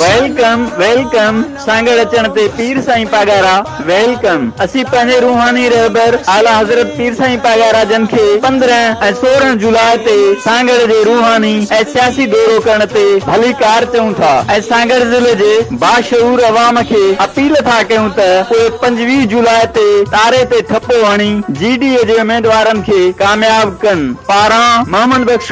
welcome welcome Sanghar اچڻ تي Pir Sain Pagara welcome اسين پنهنجي روحاني رهبر اعليٰ حضرت پير سائين پاڳارا جن کي پندرهن ۽ سورهن جولاء تي سانگهڙ جي روحاني ۽ سياسي دورو ڪرڻ تي ڀليڪار چئون ٿا ۽ سانگهڙ ضلعي جي باشعور عوام کي اپيل ٿا ڪيون ته اهي پنجويهه جولاء تي تاري تي ٺپو هڻي جي ڊي اي جي اميدوارن کي ڪامياب ڪن پاران محمد بخش